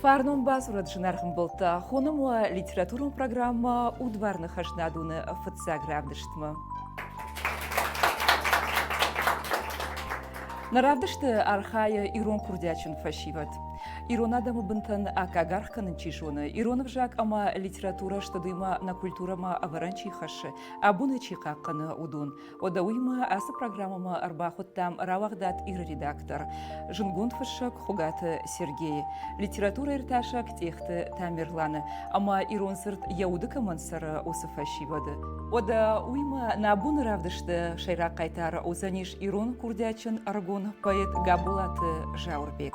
Фарнон бадзурӕд зынаргъ мбӕлттӕ, хонӕм уӕ литературон программӕ Удвар ныхасынадон-ы фыццаг равдыстмӕ. Нӕ равдысты архайы ирон курдиатджын фӕсивӕд. Ирон адӕмы бынтӕн аккаг аргъ кӕнын чи зоны, ирон ӕвзаг ӕмӕ литературӕ студимӕ нӕ культурӕмӕ ӕвӕрӕн чи хӕссы, абоны чи хъахъхъӕны, уыдон. Ода уыимӕ ацы программӕмӕ ӕрбахуыдтам рауагъдад Иры редактор, зынгонд фыссӕг Хуыгаты Сергейы, литературӕиртасӕг Тъехты Тамерланы ӕмӕ ирон цырт йӕ уды кӕмӕн цӕры, уыцы фӕсивӕды. Ода уыимӕ нӕ боны равдысты сӕйраг хъайтар уыдзӕнис ирон курдиатджын ӕрыгон поэт Габолаты Зауырбег.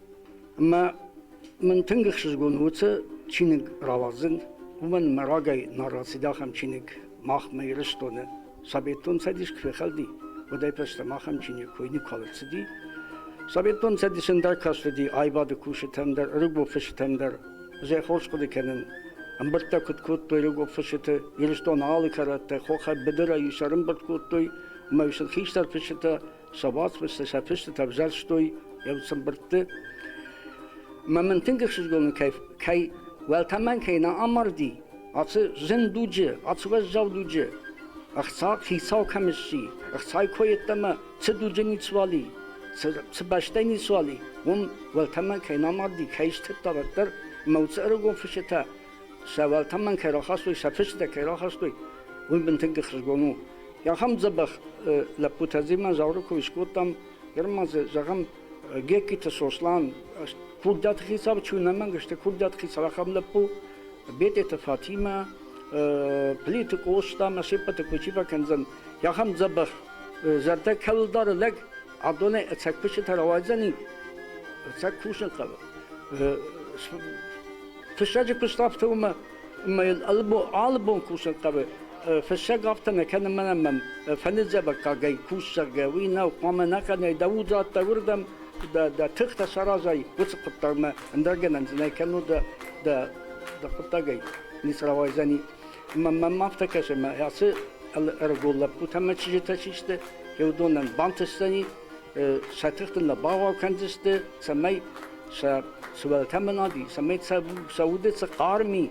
Ӕмӕ мын тынг ӕхсызгон у, цы чиныг рауадзын, уымӕн мӕ рагӕй нӕ рацыд ахӕм чиныг махмӕ Ирыстоны. Советон Цӕдис куы фехӕлди, уӕдӕй фӕстӕмӕ ахӕм чиныг кой никуал ӕрцыди. Советон Цӕдисы ӕндӕр кастыди аивады кусджытӕм дӕр, ӕрыгон фысджытӕм дӕр. Зӕй хорз хъуыды кӕнын, ӕмбырдтӕ куыд кодтой ӕрыгон фысджыты Ирыстоны алы кӕрӕттӕй, хохӕй быдырӕй сын ӕрӕмбырд кодтой, ӕмӕ сын хистӕр фысджытӕ сӕ уацмысты сӕ фыстытӕ ӕвзӕрстой йӕ цымбыртты. Мӕ мын тынг ӕхсызгон кӕй, кӕй уӕлтӕмӕн кӕй нӕ амарди, ацы зын дуджы, ацы уӕззау дуджы ӕхца хицау кӕм сси, ӕхцайы кой йеддӕмӕ цы дуджы ниц уали, цы, цы бӕстӕ ниц уали, уым уӕлтӕмӕн кӕй нӕ амарди, кӕй стыдта дарддӕр, ӕмӕ уыцы ӕрыгон фысытӕ сӕ уӕлтӕмӕн кӕй рахастой, сӕ фыстытӕ кӕй рахастой, уый бын тынг хызгон у. Ахӕм дзӕбӕх лӕппутӕ Дзиман Зауры кой скодтам, ныр ма дзы зӕгъӕм, Геккиты Сослан, курдиаты хицау чи ӕнӕмӕнг сты, курдиаты хицау ахӕм лӕппу, Бететы Фатимӕ, Плиты Къостамӕ, се ппӕты кой чи фӕкӕндзӕн, ахӕм дзӕбӕх зӕрдӕ кӕуыл дары лӕг, адонӕй ӕцӕг фыстытӕ рауайдзӕни, ӕцӕг кусын хъӕуы. Фыссӕджы куыст афтӕ у, ӕмӕ алы бон кусын хъӕуы. Фыссӕг афтӕ нӕ кӕны мӕнӕ мӕм фӕныдзӕвӕггагӕй кусӕг, уый нау хъуамӕ нӕ кӕнай, дӕ удзад дӕ уырдӕм, дӕ, дӕ тыхтӕ саразай уыцы хъуыддагмӕ, ӕндӕр гӕнӕн дзы нӕ кӕнут дӕ, дӕ, дӕ хъуыддагӕй ницы рауайдзӕни. Ӕмӕ мӕм афтӕ кӕсы, ӕмӕ ацы ӕрыгон лӕппутӕ ӕмӕ чызджытӕ чи сты, уыдонӕн бантысдзӕни сӕ тыхты нӕ бауал кӕндзысты, цӕмӕй сӕ сывӕллӕттӕм нӕди, цӕмӕй сӕ удӕй цы хъарми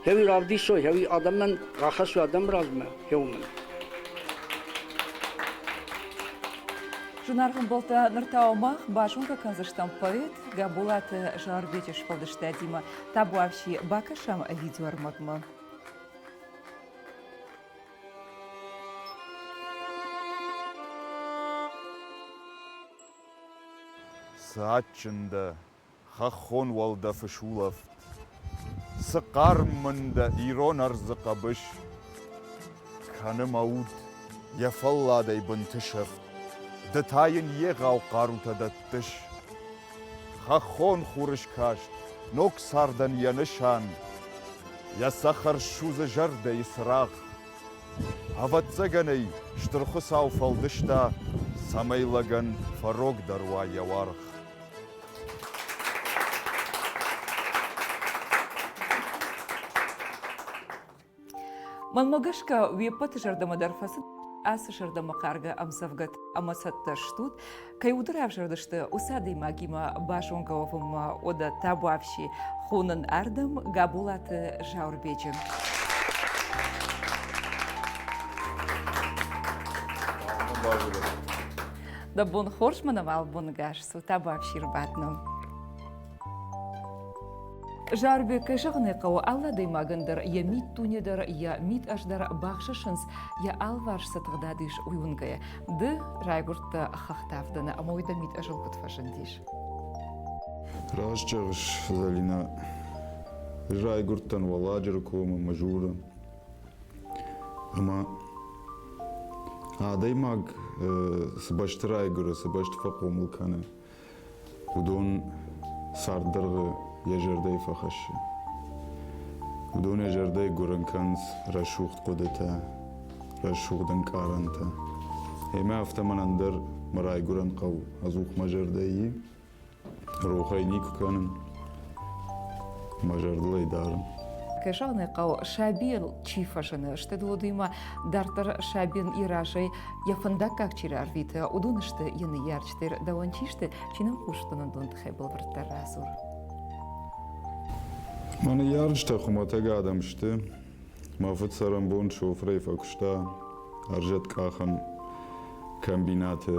хеуи равдисой, хеуи адӕмӕн рахӕссой адӕмы размӕ хеуымӕн. Зынаргъ ӕмбӕлттӕ, ныр та мах базонгӕ кӕндзыстӕм поэт Гӕболаты Зарбеджы сфӕлдыстадимӕ. Табуафси, бакӕсӕм видеоӕрмӕгмӕ. Цы адджын дӕ, хӕххон уӕлдӕфы сулӕфт, Цы хъарм мын дӕ ирон ӕрдзы хъӕбыс, Кӕны мӕ уд йӕ фӕлладӕй бынты сӕфт, Ды та йын егъау хъарутӕ дӕттыс, Хӕххон хурыскаст ног цардӕн йӕ нысан, Йӕ цӕхӕр ссудзы зӕрдӕйы цырагъ. Ӕвӕццӕгӕн ӕй Стыр Хуыцау фӕлдыста, цӕмӕй лӕгӕн фӕрогдӕр уа йӕ уаргъ. Мӕнмӕ гӕсгӕ, уе ппӕты зӕрдӕмӕ дӕр фӕцыд ацы зӕрдӕмӕхъаргӕ ӕмдзӕвгӕт ӕмӕ цӕттӕ стут, кӕй уды равзӕрдысты, уыцы адӕймагимӕ базонгӕ уӕвынмӕ ода табуафси хонын ардӕм Габолаты Зауырбеджы. Дӕ бон хорз, мӕнӕ албонгӕс у табуафси рбадтыны. Зарбег зӕгъыны хъӕуы алы адӕймагӕн дӕр йӕ миддуне дӕр, йӕ мидӕз дӕр бахсысынц, йӕ алыварс цы тыгъдад ис, уый уынгӕйӕ. Ды райгуырдтӕ хӕхтӕвдыны ӕмӕ уый дӕ мидӕзыл куыд фӕзындис? Раст зӕгъыс, Залинӕ. Райгуырдтӕн Уӕладжыры комы Мызуры. Ӕмӕ адӕймаг цы бӕсты райгуыры, цы бӕсты фӕхъомыл кӕны, уыдон царддӕргъы йӕ зӕрдӕйы фӕхӕссы. Уыдон йӕ зӕрдӕйы гуырын кӕнынц рӕсугъд хъуыдытӕ, рӕсугъд ӕнкъарӕнтӕ. Ӕмӕ афтӕ мӕнӕн дӕр мӕ райгуырӕн хъӕу ӕдзух мӕ зӕрдӕйы рохӕй никуы кӕнын, мӕ зӕрдыл ӕй дарын. Кӕсӕгный хъӕу сабийыл чи фӕзыны, сты уыдимӕ дарддӕр сабийӕн йӕ разӕй йӕ фӕндаггаг чи рарвиты, уыдон сты йӕ ныййарджытӕ. Стер дауан чиште, чиным хъустуна донты хӕбылвырддӕр радзур. Мӕнӕ ярыстӕ хуымӕтӕг адӕм сты. Мӕ фыд цӕрӕнбон шофырӕй фӕкуыста ӕрзӕт къахӕн комбинаты.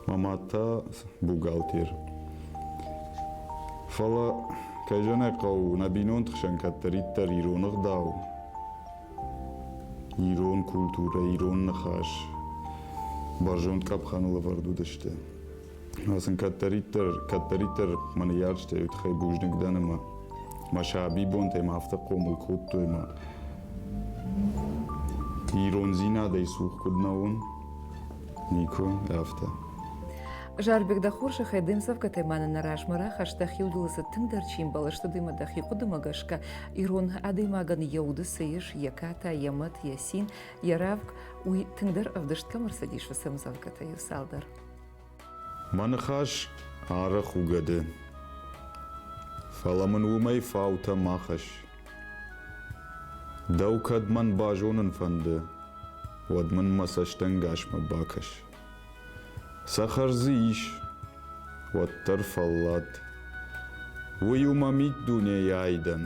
Мӕ мад та бухгалтер. Фӕлӕ, кӕй зӕнӕг хъӕуы, нӕ бинонты хсӕн кӕддӕриддӕр ироны гъдау, Ирон культурӕ, ирон ныхас бӕрзонд къӕпхӕныл ӕвӕрд уыдысты. сын кӕддӕриддӕр, кӕддӕриддӕр мӕ ныййарджытӕй уый тыххӕй бузныг дӕн ӕмӕ мӕ сабибонтӕй ма афтӕ хъомыл кодтой ӕмӕ ирондзинадӕй цух куыд нӕ уон, никуы афтӕ. Зарбег, дӕ хорзӕхӕй де мдзӕвгӕтӕ мӕнӕ нӕ размӕ рахаста, хиуылдылы цы тынгдӕр чи мбӕлы, сты дӕ дӕхи хъуыдымӕ гӕсгӕ, Ирон адӕймагӕн йӕ уды цы ис, йӕ ката, йӕ мӕт, йӕ цин, йӕ рӕвг, уый тынгдӕр ӕвдыст кӕм ӕрцыдис, уыцы ӕмдзӕвгӕтӕ иу цалдӕр. Мӕ ныхас арӕх у гӕды, фӕлӕ мын уымӕй фаутӕ ма хӕсс. Дӕу кӕд мӕн базонын фӕнды, уӕд мын мӕ цӕстӕнгасмӕ бакӕс. Цӕхӕр дзы ис, уӕддӕр фӕллад. Уый у мӕ миддунейы айдӕн,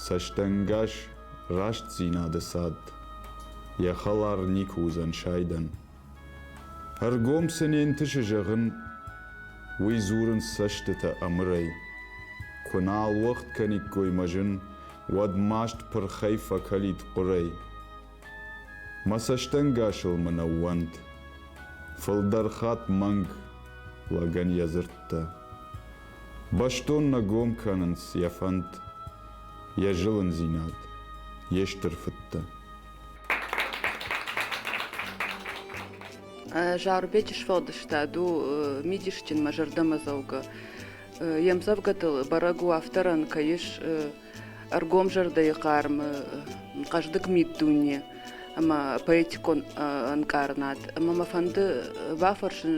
цӕстӕнгас рӕстдзинады цад, йӕ хӕлар никуы уыдзӕн сайдӕн. Ӕргом цы не нтысы зӕгъын, уый дзурынц цӕстытӕ ӕмырӕй. Куы нал уӕгъд кӕниккой мӕ зын, уӕд маст пырхӕй фӕкӕлид хъуырӕй. Мӕ цӕстӕнгасыл мын ӕууӕнд фылдӕр хатт мӕнг лӕгӕн йӕ дзырдтӕ. Бӕстон нӕ гом кӕнынц йӕ фӕнд, йӕ зылындзинад, йе стыр фыдтӕ. Зарубеджы сфӕлдыстад у мидисджын мӕ зӕрдӕмӕдзӕугӕ. Йе мдзӕвгӕтыл бӕрӕг у авторӕн кӕй ис ӕргомзӕрдӕйы хъармы хъӕздыг миддуне ӕмӕ поэтикон ӕнкъарынад ӕмӕ мӕ фӕнды бафӕрсын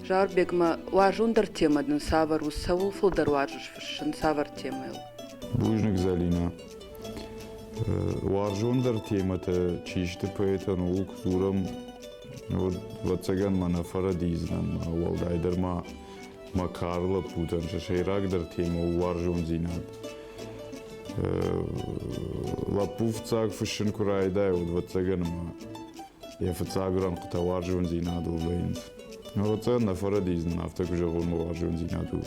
Зауырбегмӕ уарзондӕр темӕ дын цавӕр у цӕуыл фылдӕр уарзыс фыссын цавӕр темӕйыл бузныг зӕлинӕ уарзондӕр темӕтӕ чи сты поэтон ууыл куы дзурӕм уӕд ӕвӕццӕгӕн мӕнӕ фӕрӕдийдзынӕн уӕлдайдӕр ма Макар лӕппутӕн сӕ сӕйрагдӕр темӕ у уарзондзинад. Лӕппу фыццаг фыссын куы райдайы, уӕд ӕвӕццӕгӕн ма йӕ фыццаг рӕнхъытӕ уарзондзинадыл вӕййынц. Ӕвӕццӕгӕн нӕ фӕрӕдийдз нын афтӕ куы зӕгъон, ма уарзондзинад у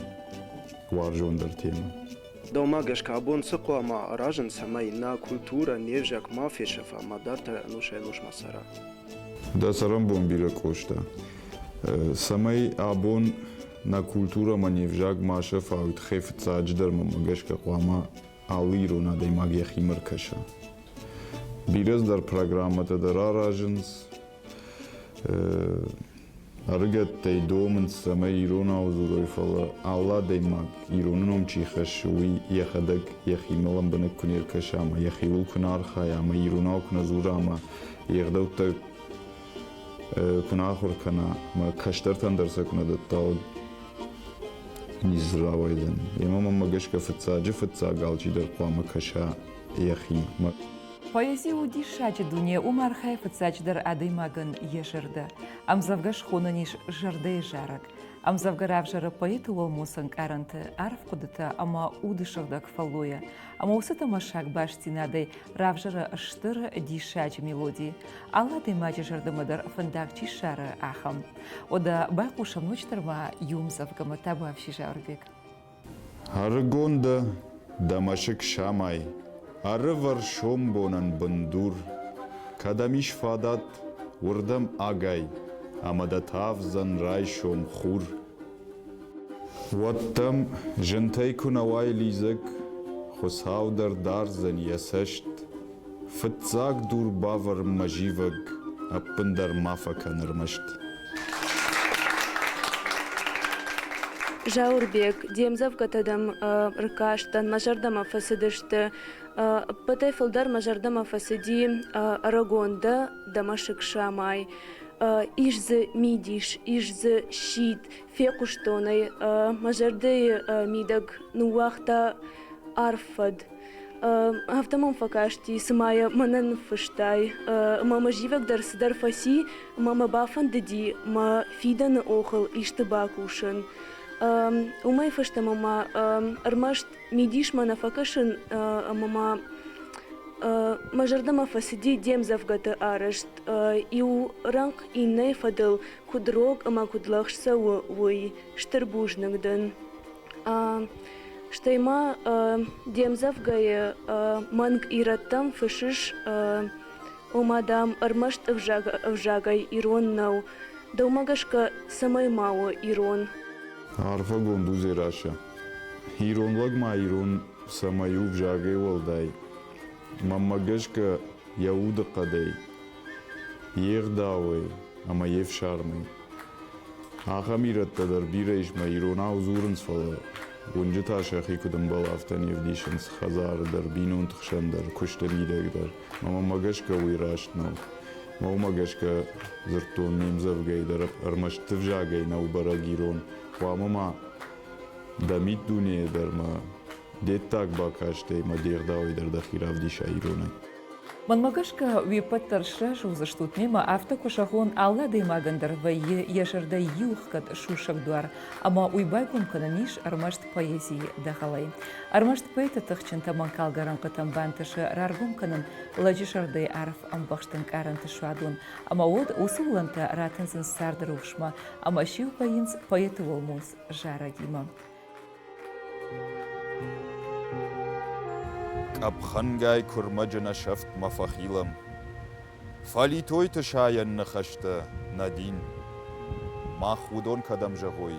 уарзондӕр темӕ. Дӕумӕ гӕсгӕ абон цы хъуамӕ аразын, цӕмӕй нӕ культурӕ, не взаг ма фесӕфа, мадӕртӕ ӕнусӕй-ӕнусмӕ цӕра? Дӕ цӕрӕнбон бирӕ, Къоста. Цӕмӕй абон нӕ культурӕмӕ не взаг ма сӕфауид, хе фыццаджыдӕрмӕ мӕ гӕсгӕ хъуамӕ алы ирон адӕймаг йӕхимӕ ркӕса. Бирӕ дӕр программӕтӕ дӕр аразынц, Ӕрыгӕттӕй домынц, цӕмӕй иронау дзурой, фӕлӕ алы адӕймаг, ироны ном чи хӕссы, уый йӕхӕдӕг йӕхимӕ лӕмбынӕг куы не ркӕса ӕмӕ йӕхиуыл куы нӕ архайа ӕмӕ иронау куы нӕ дзура ӕмӕ йе гъдӕуттӕ куы нӕ ахуыр кӕна ӕмӕ кӕстӕртӕн дӕр сӕ куы нӕ дӕтта, уӕд ницы рауайдзӕн. Йемӕ мӕнмӕ гӕсгӕ фыццаджы фыццаг алчидӕр хъуамӕ кӕса йӕхимӕ. Поэзи у диссаджы дуне, уым архайы фыццаджыдӕр адӕймагӕн йӕ зӕрдӕ. Ӕмдзӕвгӕ схонӕн ис зӕрдӕйы зарӕг. Ӕмдзӕвгӕ равзӕры поэты уӕлмос ӕнкъарӕнты, арф хъуыдытӕ ӕмӕ уды сыгъдӕг фӕллойӕ. Ӕмӕ уыцы тӕмӕссаг бастдзинадӕй равзӕры стыр, диссаджы мелоди. Алы адӕймаджы зӕрдӕмӕ дӕр фӕндаг чи ссары, ахӕм. Уӕдӕ байхъусӕм ноджыдӕр ма иу ӕмдзӕвгӕмӕ, та бафсис Ауырбег. Ӕрыгон дӕ, дӕ мӕсыг самай, Ӕрывӕр сомбонӕн бындур. Кӕд ӕм ис фадат, уырдӕм агай, Ӕмӕ дӕ тавдзӕн райсом хур. Уӕд дӕм зынтӕй куы нӕ уай лидзӕг, Хуыцау дӕр дардзӕн йӕ цӕст, Фыццаг дур бавӕрын мӕ зивӕг, ӕппындӕр ма фӕкӕн ӕрмӕст. Зауырбег, де мдзӕвгӕтӕ дӕм ркастӕн, мӕ зӕрдӕмӕ фӕцыдысты. Ӕппӕтӕй фылдӕр мӕ зӕрдӕмӕ фӕцыди ӕрыгон дӕ, дӕ мӕсыг самай. Ис дзы мидис, ис дзы сидт, фехъуыстон ӕй, мӕ зӕрдӕйы мидӕг ныууагъта арф фӕд. Афтӕ мӕм фӕкасти, цыма йӕ мӕнӕ ныффыстай. Ӕмӕ мӕ зивӕг дӕр цыдӕр фӕци, ӕмӕ мӕ бафӕндыди мӕ фидӕны охыл исты бакусын. Уымӕй фӕстӕмӕ ма ӕрмӕст мидисмӕ нӕ фӕкӕсын, ӕмӕ ма мӕ зӕрдӕмӕ фӕцыди де мдзӕвгӕты арӕзт иу рӕнхъ иннӕйы фӕдыл куыд рог ӕмӕ куыд лӕгъз цӕуы, уый. Стыр бузныг дын. Стӕй ма де мдзӕвгӕйы мӕнг ирӕттӕм фыссыс, ома, дам, ӕрмӕст ӕвзагӕй ирон нӕу. Дӕумӕ гӕсгӕ цӕмӕй ма у ирон? Арфӕгонд у Дзерассӕ. Ирон лӕг ма ирон цӕмӕй у взагӕй уӕлдай, Мӕнмӕ гӕсгӕ йӕ удыхъӕдӕй, йе гъдауӕй ӕмӕ йе фсармӕй ахӕм ирӕттӕ дӕр бирӕ ис мӕ иронау дзурынц, фӕлӕ уынджытӕ сӕхи куыд ӕмбӕлы, афтӕ не вдисынц хӕдзары дӕр, бинонты хсӕн дӕр, куысты мидӕг дӕр. Мӕнмӕ гӕсгӕ уый раст нӕу. Мӕнмӕ гӕсгӕ дзырдтон ме мдзӕвгӕйы дӕр ӕрмӕст дывзагӕй нӕу бӕрӕг ирон, хъуамӕ ма дӕ миддунейӕ дӕр ма Де ддаг бакастӕй мӕ де гъдауӕй дӕр дӕхи равдиса иронӕй. Мӕнмӕ гӕсгӕ, уе ппӕт дӕр сразы уыдзыстут мемӕ, афтӕ куы зӕгъон, алы адӕймагӕн дӕр вӕййы йӕ зӕрдӕйы иухгӕд сусӕг дуар, ӕмӕ уый байгом кӕнӕн ис ӕрмӕст поэзийы дӕгъӕлӕй. Ӕрмӕст поэты тыхджынтӕ мӕнгхалгӕ рӕнхъытӕм бантысы раргом кӕнын лӕджы зӕрдӕйы арф ӕмбӕхст ӕнкъарӕнты суадон, ӕмӕ уӕд уыцы уылӕнтӕ ратындзынц царды рухсмӕ ӕмӕ сиу вӕййынц поэты уӕлмонц зарӕгимӕ. Къӕпхӕнгай куырмӕджы нӕ сӕфтмӕ фӕхилӕм. Фӕлитойты сайӕн ныхӕстӕ, нӕ дин. Мах уыдон кӕдӕм зӕгъой,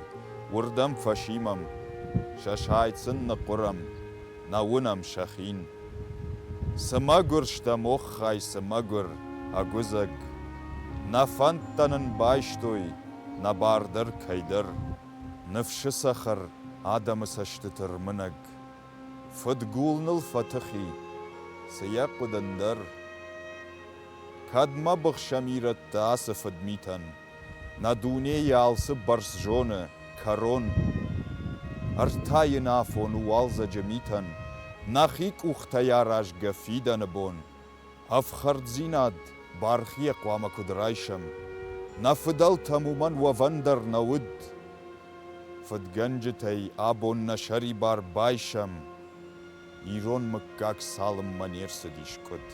уырдӕм фӕсимӕм, сӕ сайд сын ныхъхъуырӕм, нӕ уынӕм сӕ хин. Цы мӕгуыр стӕ моххай, цы мӕгуыр, ӕгуыдзӕг! Нӕ фӕндтӕ нын байстой, нӕ бар дӕр кӕйдӕр. Ныфсы цӕхӕр адӕмы цӕстыты рмынӕг. Фыдгул ныл фӕтыхи, цы йӕ хъуыд ӕндӕр? Кӕд мӕ быхсӕм ирӕттӕ ацы фыдмитӕн, Нӕ дуне йӕ алцы бӕрц зоны, кӕрон? Ӕртӕ йын афон у уалдзӕджы митӕн, Нӕхи къухтӕй аразгӕ фидӕны бон. ӕфхӕрддзинад бархийӕ хъуамӕ куыд райсӕм? Нӕ фыдӕлтӕм уымӕн уӕвӕн дӕр нӕ уыд. Фыдгӕнджытӕй абон нӕ сӕрибар байсӕм. Ирон мыггаг цалынмӕ не рцыдис къуыд.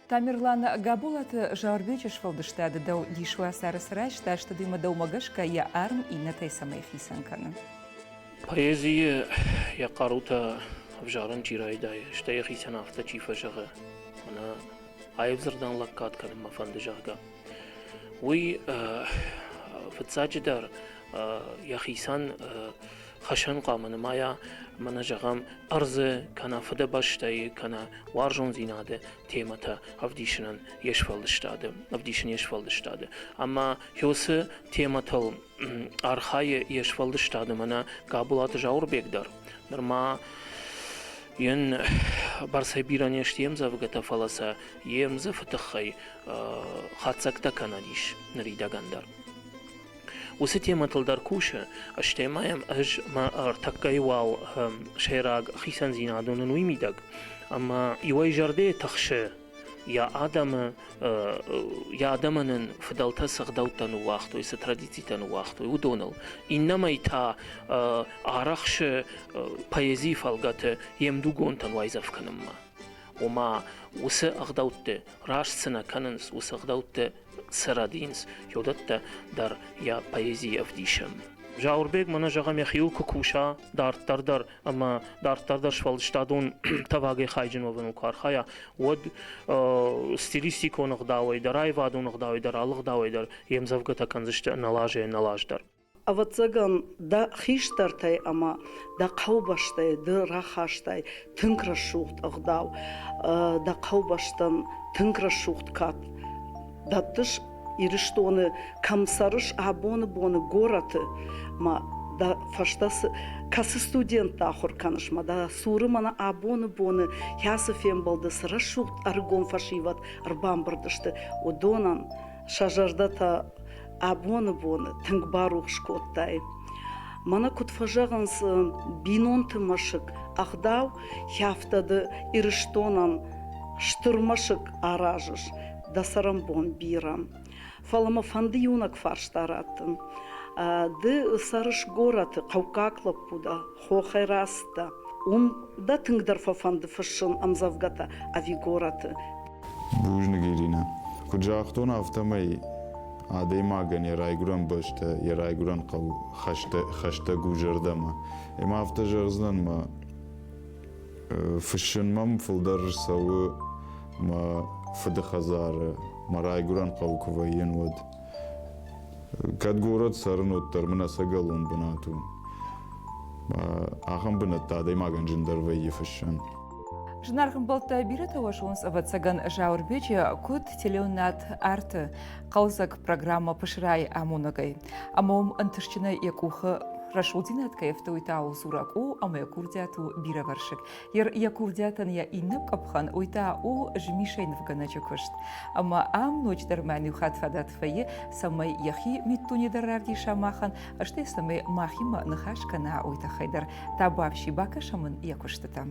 Тамерланы Габолаты Зарбеджы сфӕлдыстады дӕу дис уацары срайста, стыдимӕ дӕумӕ гӕсгӕ йӕ арм иннӕтӕй цӕмӕй хицӕн кӕны? Поэзийы йӕ хъарутӕ ӕвзарын чи райдайы, стӕй йӕхицӕн афтӕ чи фӕзӕгъы, мӕнӕ аив дзырдӕн лӕггад кӕнынмӕ фӕнды, зӕгъгӕ, уый, фыццаджыдӕр, йӕхицӕн Фӕсӕн хъуамӕ нымайа ӕмӕ нӕ зӕгъӕм ӕрдзы, кӕнӕ фыдыбӕстӕйы, кӕнӕ уарзондзинады темӕтӕ ӕвдисынӕн йе сфӕлдыстады, ӕвдисын йе сфӕлдыстады. Ӕмӕ Хёсы темӕтыл архайы йе сфӕлдыстады мӕнӕ Габолаты Зауырбег дӕр. Нырма йын бӕрцӕй бирӕ не сты йе мдзӕвгӕтӕ, фӕлӕ сӕ йе мдзыфы тыххӕй хатдзӕгтӕ кӕнӕн ис ныридӕгӕн дӕр. Уыцы темӕтыл дӕр кусы, стӕй ма йӕм ӕз мӕ ӕртӕккӕйы уал сӕйраг хицӕндзинад уынын уый мидӕг. Ӕмӕ иуӕй зӕрдӕйы тыхсы йӕ адӕмы, йӕ адӕмӕн ын фыдӕлтӕ цы гъдӕуттӕ ныууагътой, цы традицитӕ ныууагътой, уыдоныл. Иннӕмӕй та арӕхсы поэзийы фӕлгӕты йе мдугонтӕн уайдзӕф кӕнынмӕ. Ома, уыцы ӕгъдӕутты раст цы нӕ кӕнынц, уыцы ӕгъдӕутты цы рӕдийынц, уыдӕттӕ дӕр йӕ поэзийы ӕвдисӕн. Зауырбег мӕнӕ зӕгъӕм йӕхиуыл куы куса дарддӕр дӕр ӕмӕ дарддӕр дӕр сфӕлдыстадон тӕвагӕй хайджын уӕвыныл куы архайа, уӕд э, стилистикон ӕгъдауӕй дӕр, аивадон ӕгъдауӕй дӕр, алы ӕгъдауӕй дӕр йе мдзӕвгӕтӕ кӕндзысты ӕнӕлазӕй ӕнӕлаз дӕр. Ӕвӕццӕгӕн, дӕ хистӕртӕй ӕмӕ дӕ хъӕубӕстӕй ды рахастай тынг рӕсугъд ӕгъдау. Дӕ хъӕубӕстӕн тынг рӕсугъд кад дӕттыс Ирыстоны, кӕм цӕрыс абоны боны горӕты, ма дӕ фӕстӕ цы кӕцы студентты ахуыр кӕныс, ма дӕ цуры мӕнӕ абоны боны кӕцы фембӕлды цы рӕсугъд ӕрыгон фӕсивӕд ӕрбамбырд сты, уыдонӕн сӕ зӕрдӕтӕ абоны боны тынг барухс кодтаид. Мӕнӕ куыд фӕзӕгъынц бинонты мӕсыг ӕгъдау хӕфтады Ирыстонӕн стыр мӕсыг аразыс дӕ цӕрӕнбон бирӕ. Фӕлӕ мӕ фӕнды иунӕг фарста раттын. Ды цӕрыс горӕты, хъӕуккаг лӕппу дӕ, Хохӕй раст дӕ. Уым дӕ тынгдӕр фӕфӕнды фыссын ӕмдзӕвгӕтӕ ӕви горӕты? Бузныг, Иринӕ. Куыд загътон, афтӕмӕй адӕймагӕн йӕ райгуырӕн бӕстӕ, йӕ райгуырӕн хъӕу хӕстӕг у зӕрдӕмӕ. Ӕмӕ афтӕ зӕгъдзынӕн, мӕ фыссын мӕм фылдӕр цӕуы мӕ фыды хӕдзары, мӕ райгуырӕн хъӕуы куы вӕййын, уӕд. кӕд горӕт цӕрын уӕддӕр мын ӕцӕгӕлон бынат у ахӕм бынӕттӕ адӕймагӕн зындӕр вӕййы фыссӕн Зынаргъ бӕлттӕ бирӕтӕ уӕсонс, ӕвӕццӕгӕн, Зауырбечы куыд теленад арты хъӕлдзӕг программӕ пысырайы амонӕгӕй, ӕмӕ уым ӕнтыстджынӕй йӕ къухы рӕсугъддзинад кӕй ӕфтауы Суракъо ӕмӕ йӕ курдиат у бирӕвӕрсыг. Ир йӕ курдиатӕн йӕ иннӕ къӕпхӕн, уый та у змисӕй нывгӕнӕджы куыст. Ӕмӕ ам ноджыдӕр мӕн иу хатт фадат вӕййы, цӕмӕй йӕхи миддуне дӕр равдиса махӕн, стӕй цӕмӕй махимӕ ныхас кӕна, уый тыххӕй дӕр та бафси бакӕсӕм ын йӕ куыстытӕм.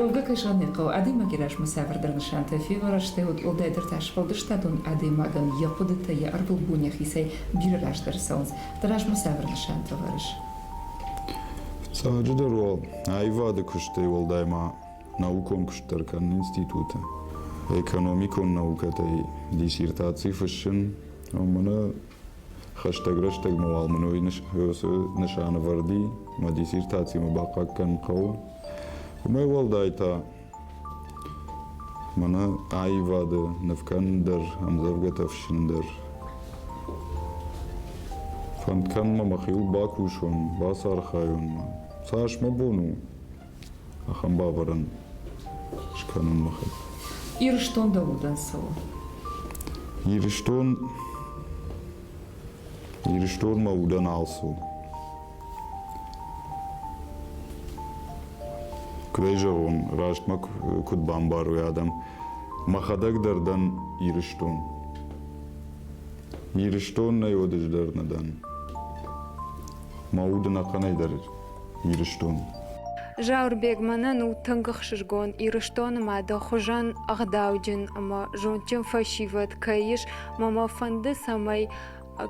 Олга Кашанехъова адӕймаги размӕ цавӕрдӕр нысантӕ феуӕрста уӕд Олдайдӕртӕ сфӕлдыстадон адӕймагӕн йӕ хъуыдытӕ йӕ ӕрвылбон йӕхицӕй бирӕ раздӕр цӕуынц. Дӕ размӕ цавӕр нысантӕ вӕрыс? Сӕджыдӕр уал аивады куыстӕй уӕлдай ма наукон куыст дӕр кӕнын институты экономикон наукӕтӕй диссертаци фыссын, уымӕн Хӕстӕг рӕстӕгмӕ уал мын уый нысанӕвӕрди, мӕ диссертацимӕ бахъаг кӕнын хъӕуы. Уымӕй уӕлдай та мӕнӕ аивады, нывкӕнын дӕр, ӕмдзӕвгӕтӕ фыссын дӕр. Фӕнд кӕнын мӕ мӕхиуыл бакусон, бацархайон ма. Цас мӕ бон у, ахӕм бавӕрӕн скӕнын мӕхи. Ирыстон дӕ удӕн цӕуы? Ирыстон Ирыстон мӕ удӕн алцы у. Куыд ӕй зӕгъон, рӕстмӕ куыд бамбарой адӕм, мӕхӕдӕг дӕр дӕн Ирыстон. Ирыстон нӕ уодыздӕр нӕ дӕн. Мӕ уд ӕнӕхъӕнӕй дӕр Ирыстон. Зауырбег мӕнӕн у тынг ӕхсызгон Ирыстоны мады хуызӕн ӕгъдауджын ӕмӕ зондджын фӕсивӕд кӕй ис мӕ мӕ фӕнды цӕмӕй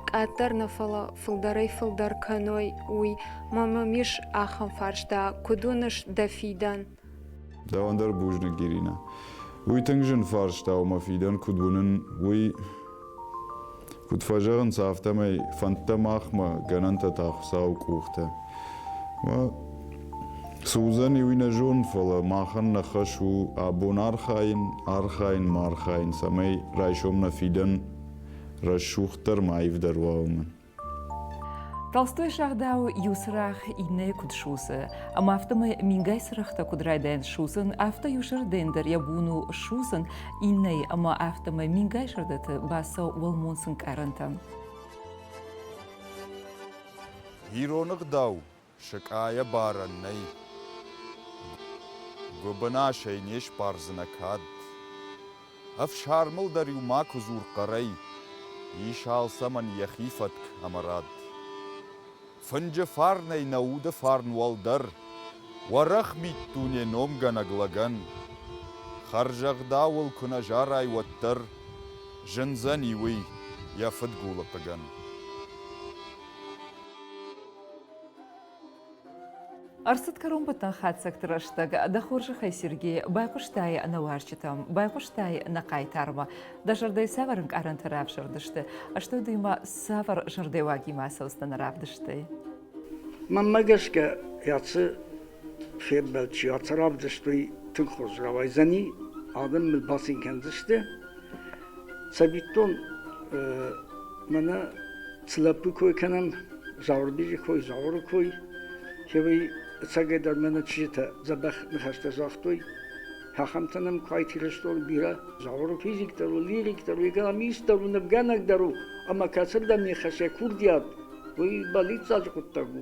къаддӕр нӕ фӕлӕ фылдӕрӕй фылдӕр кӕной уый мӕ мӕм ис ахӕм фарста куыд уыныс дӕ фидӕн Дӕуӕн дӕр бузныг, Иринӕ. Уый тынг зын фарста у мӕ фидӕн куыд уынын, уый. Куыд фӕзӕгъынц, афтӕмӕй фӕндтӕ махмӕ, гӕнӕнтӕ та Хуыцауы къухтӕ. Цы уыдзӕни, уый нӕ зонын, фӕлӕ махӕн нӕ хӕс у абон архайын, архайын ма архайын, цӕмӕй райсом нӕ фидӕн рӕсугъддӕр ма аивдӕр уа уымӕн. толстой сагъдауы иу цырагъ иннӕйы куыд судзы ӕмӕ афтӕмӕй мингай цырӕгътӕ куыд райдайын судзын афтӕ иу сырдӕн дӕр йӕ бон у судзын иннӕйы ӕмӕ афтӕмӕй мингай сырдыты бацӕуы уӕлмонц ӕнкъарӕнтӕм ироны гъдау Сыкъайӕбарӕн нӕй. Гуыбынасӕй не сбардзынӕ кӕд. Ӕфсармыл дӕр-иу макуы дзур хъӕрӕй, ис алцӕмӕн йӕхи фӕтк ӕмӕ рад. Фынджы фарнӕй нӕ уды фарн уӕлдӕр, уӕрӕх миддуне номгӕнӕг лӕгӕн. Хӕрзӕгъдауыл куы нӕ зарай, уӕддӕр зындзӕни уый йӕ фыдгулы хъыгӕн. Ӕрцыд кӕронбӕттӕн хатдзӕгты рӕстӕг. Дӕ хорзӕхӕй, Сергей, байхъуыстай нӕ уазджытӕм, байхъуыстай нӕ хъайтармӕ. Дӕ зӕрдӕйы цавӕр ӕнкъарӕнтӕ равзӕрдысты? Стӕй дыимӕ цавӕр зӕрдӕйуагимӕ ацӕудзтӕ нӕ равдыстӕй? Мӕнмӕ гӕсгӕ, ӕцы фембӕлд чи ацарӕвдыстой, тынг хорз рауайдзӕни, адӕм мыл бацин кӕндзысты. Цӕвиттон, мӕнӕ цы лӕппу кой кӕнӕм, Зауырбеджы кой, Зауыры кой, кӕвӕй ӕцӕгӕйдӕр мӕнӕ чызджытӕ дзӕбӕх ныхӕстӕ загътой, ахӕмтӕ нӕм куы айтирӕзтой бирӕ. Зауыры физиктӕр у, лириктӕр у, егономистдӕр у, нывгӕнӕгдӕр у, ӕмӕ кӕцырдӕм не хӕсса курдиат, уый бӕллиццаджы хъуыддаг у.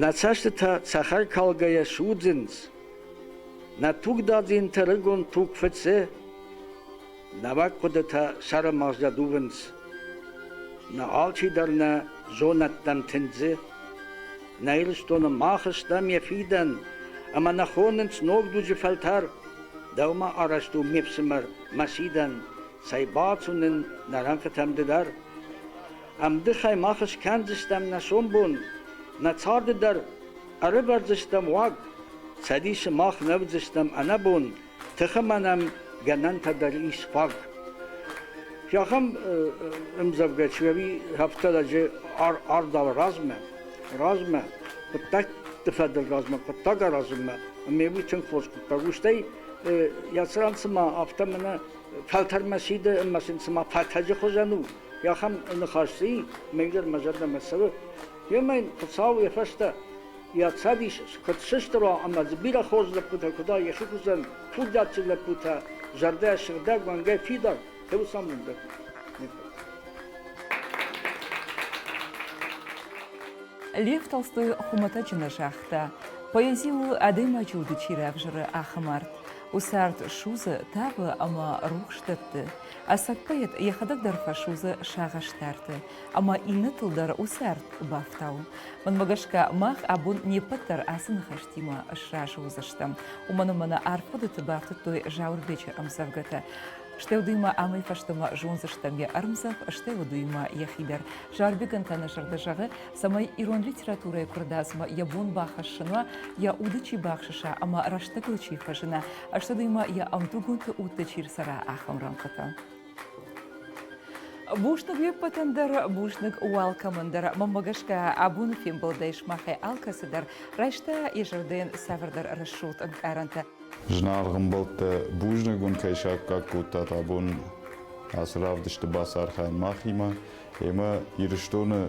Нӕ цӕстытӕ цӕхӕркалгӕйӕ судзынц, нӕ тугдадзинтӕ рыгон туг фыцы, нӕуӕг хъуыдытӕ сӕрымагъзӕ дувынц. Нӕ алчидӕр нӕ зонӕдтӕм тындзы. Нӕ Ирыстоны мах стӕм йӕ фидӕн, ӕмӕ нӕ хонынц ног дуджы фӕлтӕр. Дӕумӕ арӕзт у ме фсымӕр мӕ сидӕн, цӕй бацу нын нӕ рӕнхъытӕм ды дӕр. Ӕмдыхӕй мах скӕндзыстӕм нӕ сомбон, нӕ царды дӕр ӕрывӕрдзыстӕм уаг, Цӕдисы мах нӕ уыдзыстӕм ӕнӕбон, тыхы ма нӕм гӕнӕнтӕ дӕр ис фаг. Ахӕм ӕмдзӕвгӕ Челови рафта лӕджы ардауы размӕ. Размӕ, хъуыддӕгты фӕдыл размӕ, хъуыддаг аразынмӕ, ӕмӕ уый тынг хорз хъуыддаг у. Стӕй йӕ цыран цыма афтӕ мӕнӕ фӕлтӕрмӕ сиды ӕмӕ сын цыма фӕтӕджы хуызӕн у, ахӕм ныхас дзы и, мынгдӕр мӕ зӕрдӕмӕ цӕуы. Йемӕ йын Хуыцау йӕ фӕстӕ йӕ цӕдис куыд сыстра ӕмӕ дзы бирӕ хорз лӕппутӕ куыд йӕхи хуызӕн курдиатджын лӕппутӕ, зӕрдӕ сыгъдӕг уӕнгӕй фидар, фӕуыцаумон дӕр. Лев Толстой хуымӕтӕджы нӕ загъта, поэзи у, адӕймаджы уды чи равзӕры, ахӕм арт. Усӕрд судзы, тавы ӕмӕ рухс дӕтты. Ацӕттӕ йӕхӕдӕг дӕр фӕсудзы сагъӕстӕрты, ӕмӕ иннӕтыл дӕр усӕрд бафтауы. Мӕнмӕ гӕсгӕ, мах абон не ппӕт дӕр ацы ныхӕстимӕ сразы уыдзыстӕм, уымӕн ӕмӕ нӕ арфхъуыдыты бафтыдтой Зауырбечы ӕмдзӕвгӕтӕ. Стӕй уый ма амӕй фӕстӕмӕ зондзыстӕм йӕ ӕрмдзӕф, стӕй уӕд уыимӕ йӕхи дӕр. Зауырбегӕн та нӕ зӕрдӕ зӕгъы, цӕмӕй ирон литературӕйы куырдадзмӕ йӕ бон бахӕссын уа, йӕ уды чи бахсыса ӕмӕ рӕстӕгыл чи фӕзына, ӕстӕдыймӕ йӕ ӕмдугонты удтӕ чи рцӕра, ахӕм рӕнхъытӕ. Бузныг уе ппӕтӕн дӕр, бузныг уӕ алкӕмӕн дӕр. Мӕнмӕ гӕсгӕ, абоны фембӕлдӕй сымахӕй алкӕцы дӕр райста йӕ зӕрдӕйӕн цавӕрдӕр рӕсугъд ӕнкъарӕнтӕ. Зынаргъ ӕмбӕлттӕ, бузныг уын кӕй саккаг кодтат абон ацы равдысты бацархайын махимӕ. Уемӕ Ирыстоны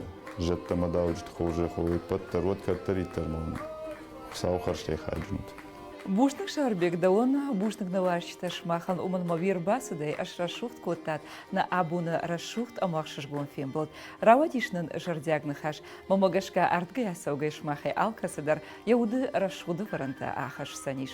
зӕдтӕ-мадауджыты хорзӕй хой ӕппӕт дӕр, уӕд кӕддӕриддӕр мӕм Хуыцауы хӕрзтӕй хайджын ут. Бузныг, Сӕрбег, дӕуӕн бузныг нӕ ласджытӕ сымахӕн уымӕн мӕ уе рбацыдӕй ӕсрӕсугъд кодтат нӕ абоны рӕсугъд ӕмӕ ӕхсызгон фембӕлд. Рауадис нын зӕрдиаг ныхас, мӕмӕ гӕсгӕ ардгӕй-ацӕугӕй сымахӕй алкӕцы дӕр йӕ уды рӕсугъды фӕрӕнтӕ ахӕсдзӕнис.